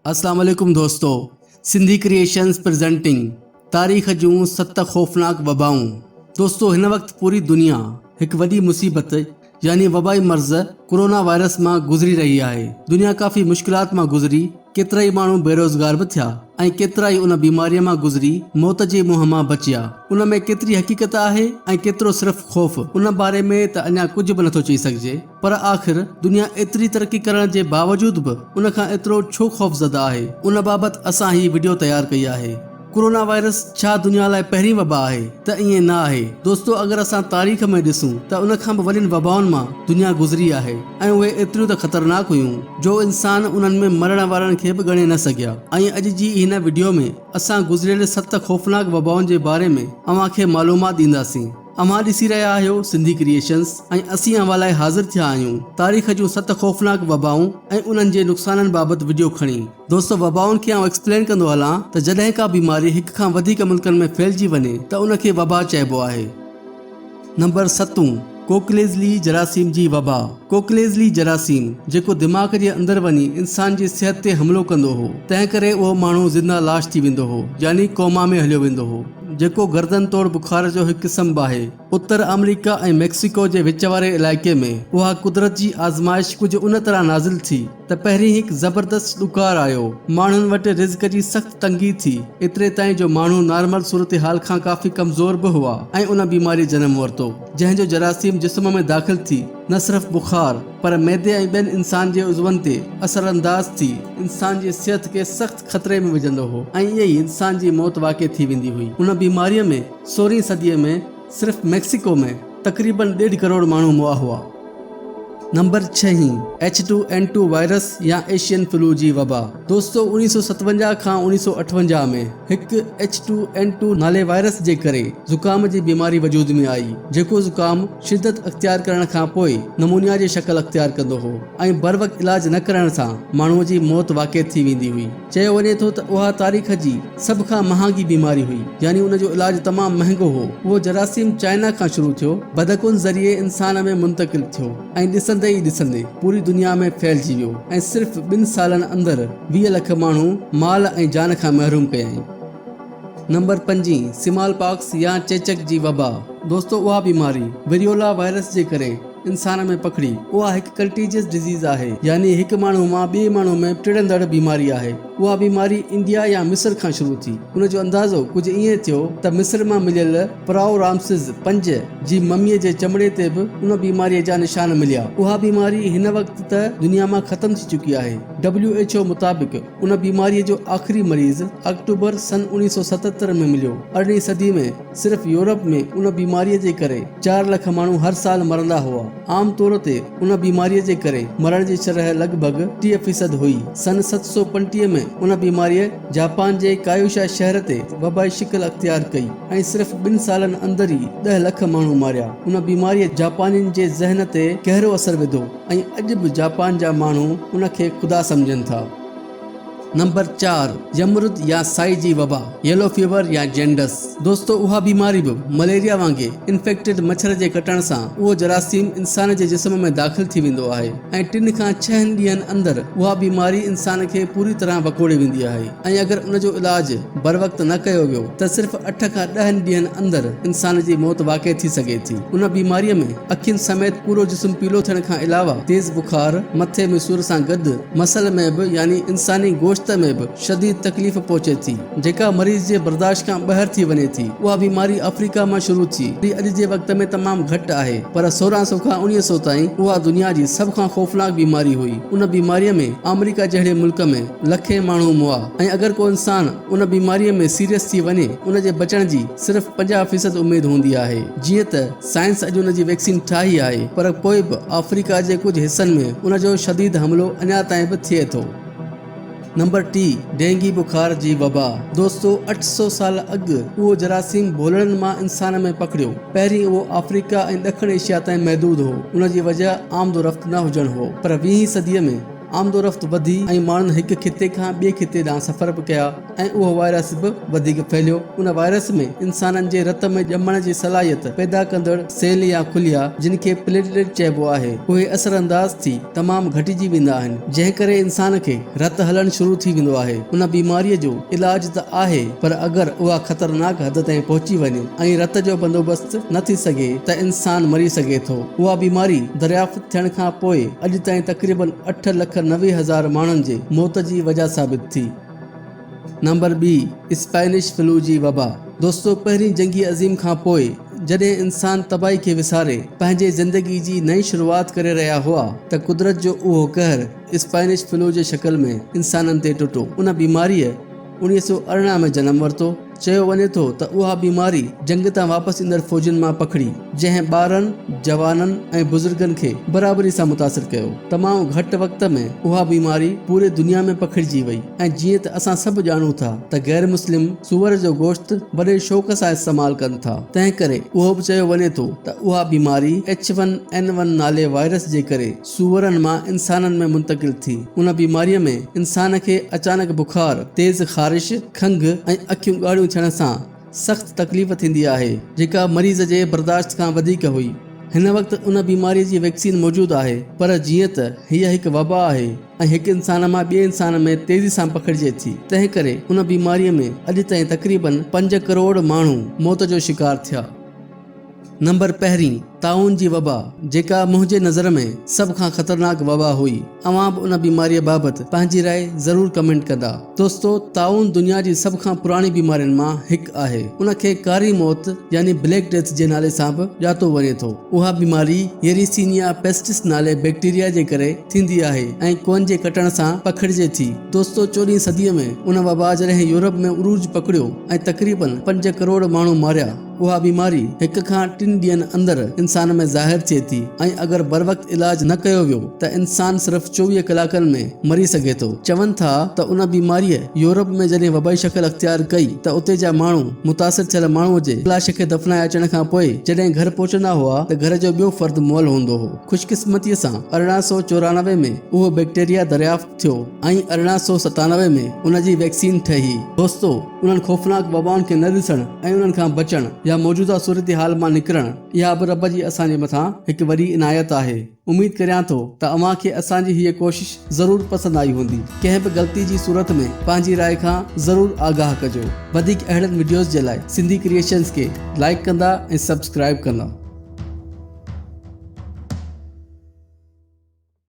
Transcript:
اسلام عليڪم دوستو سنڌي ڪريئيشنز پريزنٽنگ تاريخ جون ست خوفناڪ وبائون دوستو هن وقت پوري دنيا هڪ وڏي مصيبت يعني وبائي مرض ڪورونا وائرس مان گذري رهي آهي دنيا ڪافي مشڪلات مان گذري ڪيترائي ماڻهو بيروزگار به ٿيا ۽ ڪيترائي ان بيماري مان گذري موت جي منهن مان بچيا ان ۾ ڪيتري حقيقت آهي ۽ ڪيترو صرف خوف ان باري ۾ ته اڃا ڪجهه به نٿو چئي سگهجي پر آخر دنيا ايتري ترقي ڪرڻ جي باوجود به ان کان ايترو ڇو خوفزده آهي ان بابت اسان هي وڊيو تيار ڪئي آهي. ڪورونا وائرس ڇا دنيا لاء پهرين وبا آهي؟ ته ائين نه آهي دوستو اگر اسان تاريخ ۾ ڏسون ته ان کان به وڏين وبائن مان دنيا گذري آهي ۽ اهي ايتريون ته خطرناڪ هيون جو انسان انهن ۾ مرڻ وارن کي به ڳڻي نه سگهيا ۽ اڄ جي هن وڊيو ۾ اسان گذريل ست خوفناڪ وبائن جي باري ۾ اوهان کي معلومات ڏينداسين. اوهان ڏسي رهيا آهيو سنڌي ڪريئيشنز ۽ اسين اوهان لاء حاضر ٿيا آهيون تاريخ جون ست خوفناڪ وبائون ۽ انهن جي نقصانن بابت وڊيو کڻي. دوستو وبائن کي آئون ايڪسپلين ڪندو هلان ته جڏهن ڪا بيماري هڪ کان وڌيڪ ملڪن ۾ ڦهلجي وڃي ته ان کي وبا چئبو آهي. نمبر ستون، ڪوڪليزلي جراثيم جي وبا، ڪوڪليزلي جراثيم، جيڪو دماغ جي اندر وڃي انسان جي صحت تي حملو ڪندو هو، تنهن ڪري اهو ماڻهو زنده لاش ٿي ويندو هو يعني ڪوما ۾ هليو ويندو هو. جيڪو گردن توڙ بخار جو هڪ قسم به آهي. اتر آمريڪا ۽ ميڪسيڪو جي وچ واري علائقي ۾ اها قدرت جي آزمائش ڪجهه ان طرح نازل ٿي ته پهرين هڪ زبردست ڏڪار آيو. ماڻهن وٽ رزق جي سخت تنگي ٿي، ايتري تائين جو ماڻهو نارمل صورتحال کان ڪافي ڪمزور به هئا ۽ ان بيماري جنم ورتو، جنهن جو جراثيم جسم ۾ داخل ٿي نه صرف بخار پر معدي ۽ ٻين انسان جي عضون تي اثرانداز ٿي، انسان جي صحت کي سخت خطري ۾ وجهندو هو ۽ ائين ئي انسان جي موت واقع ٿي ويندي هئي. ان بيماريء ۾ سورهين صديء ۾ صرف ميڪسيڪو ۾ تقريبن ڏيڍ ڪروڙ ماڻهو مئا هئا. نمبر ڇهين، H two N two virus يا ايشين فلو جي وبا. دوستو اڻيهه سؤ ستونجاهه کان اڻيهه سؤ اٺونجاهه ۾ هڪ ايڇ ٽو اين ٽو نالي وائرس جي ڪري زڪام جي بيماري وجود ۾ آئي جيڪو زڪام شدت اختيار ڪرڻ کان پوء نمونيا جي شڪل اختيار ڪندو هو. ۽ بروقت علاج نه ڪرائڻ سان ماڻهوء جي موت واقع ٿي ويندي هئي. چيو وڃي ٿو ته اها تاريخ جي سڀ کان مهانگي بيماري هئي، يعني ان جو علاج تمام مهنگو هو. اهو جراثيم چائنا کان شروع ٿيو، بدڪن ذريعي انسان ۾ منتقل ٿيو ۽ ڏسندي ئي ڏسندي پوري دنيا ۾ ڦهلجي ويو ۽ صرف ٻن سالن اندر ويهه لک ماڻهو مال ۽ جان کان محروم ڪيائين. نمبر پنجين، سمال پاڪس يا چيچڪ جي وبا. دوستو اها بيماري، وريولا وائرس جي ڪري، انسان ۾ پکڙي. اها هڪ ڪنٽيجيس ڊزيز آهي، يعني هڪ ماڻهو مان ٻئي ماڻهو ۾ ٽڙندڙ بيماري آهي. اها بيماري انڊيا يا مصر کان شروع ٿي. ان جو اندازو ڪجهه ائين ٿيو ته مصر مان مليل پراء رامسز پنج جي مميء جي چمڙي تي به ان بيماريء جا نشان مليا. اها بيماري هن وقت ته دنيا مان ختم ٿي چڪي آهي. WHO مطابق، ان بيماريء جو آخري مريض آڪٽوبر سن اوڻيهه سؤ ستهتر ۾ مليو. ارڙهين صدي ۾ صرف يورپ ۾ ان بيماريء جي ڪري چار لک ماڻهو هر سال مرندا هئا. عام طور تي ان بيماريء جي ڪري مرڻ جي شرح لڳ ڀڳ ٽيهه فيصد هئي. سن ست سؤ پنجٽيهه ۾ ان بيماريء جاپان جي ڪايوشا شهر تي وبائي شڪل اختيار ڪئي ۽ صرف ٻن سالن اندر ئي ڏهه لک ماڻهو ماريا. ان بيماريء جاپانين جي ذهن تي گهرو اثر وڌو. ۽ اڄ به جاپان جا ماڻهو ان کي خدا سمجهن ٿا. نمبر چار، يمرود يا سائي جي وبا، Yellow Fever يا جينڊس. دوستو اها بيماري به مليريا وانگي انفيڪٽيڊ مڇر جي ڪٽڻ سان اهو جراثيم انسان جي جسم ۾ داخل ٿي ويندو آهي ۽ ٽن کان ڇهن ڏينهن اندر اها بيماري انسان کي پوري طرح وڪوڙي ويندي آهي. ۽ اگر ان جو علاج بروقت نه ڪيو ويو ته صرف اٺ کان ڏهن ڏينهن اندر انسان جي موت واقع ٿي سگهي ٿي. ان بيماريء ۾ اکين سميت پورو جسم پيلو ٿيڻ کان علاوه تيز بخار، مٿي ۾ سور سان گڏ مسل ۾ به يعني انساني گوشت ۾ به شديد تڪليف پهچي ٿي، جيڪا مريض جي برداشت کان ٻاهر ٿي وڃي ٿي. اها بيماري آفريڪا مان شروع ٿي، جي اڄ جي وقت ۾ تمام گهٽ آهي، پر سورهن سئو کان اڻيهه سئو تائين اها دنيا جي سڀ کان خوفناڪ بيماري هئي. ان بيماريء ۾ آمريڪا جهڙي ملڪ ۾. لکين ماڻهو مئا ۽ اگر ڪو انسان ان بيماريء ۾ سيريس ٿي وڃي ان جي بچڻ جي صرف پنجاهه فيصد اميد هوندي آهي جيئن ته سائنس اڄ ان جي ويڪسين ٺاهي آهي پر پوء به آفريڪا جي ڪجهه حصن ۾ ان جو شديد حملو اڃا تائين به ٿئي ٿو. نمبر ٽي، ڊينگي بخار جي وبا، دوستو اٺ سؤ سال اڳ اهو جراثيم ڀولڙن مان انسان ۾ پکڙيو، پهرين اهو آفريڪا ۽ ڏکڻ ايشيا تائين محدود هو ان جي وجهه آمد و رفت نه هجڻ هو پر ويهين صديء ۾. آمدورفت وڌي ۽ ماڻهن هڪ خطي کان ٻئي خطي ڏانهن سفر به ڪيا ۽ اهو وائرس به وڌيڪ ڦهليو. ان وائرس ۾ انسانن جي رت ۾ ڄمڻ جي صلاحيت پيدا ڪندڙ سيل يا خليا جن کي پليٽليٽ چئبو آهي اهي اثرانداز ٿي تمام گهٽجي ويندا آهن جنهن ڪري انسان کي رت هلڻ شروع ٿي ويندو آهي. ان بيماريء جو علاج ته آهي پر اگر اها خطرناڪ حد تائين پهچي وڃي ۽ رت جو بندوبست نه ٿي سگهي ته انسان مري سگهي ٿو. اها بيماري دريافت. ٿيڻ کان پوء اڄ تائين تقريباً اٺ لک نوي هزار ماڻهن جي موت جي وجهه ثابت ٿي. نمبر ٻي، اسپينش فلو جي وبا. دوستو پهرين جنگي عظيم کان پوء جڏهن انسان تباهي کي وساري پنهنجي زندگي جي نئين شروعات ڪري رهيا هئا ته قدرت جو اهو قهر اسپينش فلو جي شڪل ۾ انسانن تي ٽٽو. ان بيماريء اڻيهه سؤ ارڙهن ۾ جنم ورتو. چيو وڃي ٿو ته اها بيماري جنگ تان واپس ايندڙ فوجين مان پکڙي، جنهن ٻارن، جوانن ۽ بزرگن کي برابري سان متاثر ڪيو. تمام گهٽ وقت ۾ اها بيماري پوري دنيا ۾ پکڙجي وئي ۽ جيئن ته اسان سڀ ڄاڻون ٿا ته غير مسلم سوئر جو گوشت وڏي شوق سان استعمال ڪن ٿا، تنهن ڪري اهو به چيو وڃي ٿو ته اها بيماري ايڇ ون اين ون نالي وائرس جي ڪري سوئرن مان انسانن ۾ منتقل ٿي. ان بيماريء ۾ انسان کي اچانڪ بخار، تيز خارش، کنگهه ۽ اکيون ڳاڙهيون ٿيڻ سان سخت تڪليف ٿيندي آهي، جيڪا مريض جي برداشت کان وڌيڪ هئي. هن وقت ان بيماريء جي ويڪسين موجود آهي، پر جيئن ته هيء هڪ وبا آهي ۽ هڪ انسان مان ٻئي انسان ۾ تيزي سان پکڙجي ٿي، تنهنڪري ان بيماريء ۾ اڄ تائين تقريبن پنج ڪروڙ ماڻهو موت جو شڪار ٿيا. نمبر پهرين، طاعون جي وبا، جيڪا منهنجي نظر ۾ سڀ کان خطرناڪ وبا هئي. اوهان به ان بيماريء بابت پنهنجي راء ضرور ڪمينٽ ڪندا. دوستو، طاعون دنيا جي سڀ کان پراڻي بيمارين مان هڪ آهي. ان کي ڪاري موت يعني Black Death جي نالي سان به ڄاتو وڃي ٿو. اها بيماري Yersinia pestis نالي بيڪٽيريا جي ڪري ٿيندي آهي ۽ ڪوئن جي ڪٽڻ سان پکڙجي ٿي. دوستو، چوڏهين صديء ۾ ان وبا جڏهن يورپ ۾ عروج پڪڙيو ۽ تقريبن پنج ڪروڙ ماڻهو ماريا. اها بيماري هڪ کان ٽن ڏينهن اندر انسان ۾ ظاهر ٿئي ٿي ۽ اگر بروقت علاج نه ڪيو ويو ته انسان صرف چوويهه ڪلاڪن ۾ مري سگهي ٿو. چون ٿا ته ان بيماريء يورپ ۾ جڏهن وبائي شڪل اختيار ڪئي ته اتي جا ماڻهو متاثر ٿيل ماڻهوء جي لاش کي دفنائي اچڻ کان پوء جڏهن گهر پهچندا هئا ته گهر جو ٻيو فرد مئل هوندو هو. خوشقسمتيء سان ارڙهن سؤ چورانوي ۾ اهو بيڪٽيريا دريافت ٿيو ۽ ارڙهن سؤ ستانوي ۾ ان جي ويڪسين ٺهي. دوستو! انهن خوفناڪ وبائن کي نه ڏسڻ ۽ انهن کان بچڻ يا موجوده صورتحال مان نڪرڻ اها به رب جي اسان جي مٿان هڪ وڏي عنايت آهي. اميد ڪريان ٿو ته اوهان کي اسان جي هيء ڪوشش ضرور پسند آئي هوندي. ڪنهن به غلطي جي صورت ۾ پنهنجي راء کان ضرور آگاهه ڪجو. وڌيڪ اهڙن وڊيوز جي لاء سنڌي ڪريئيشنز کي لائيڪ ڪندا ۽ سبسڪرائيب ڪندا.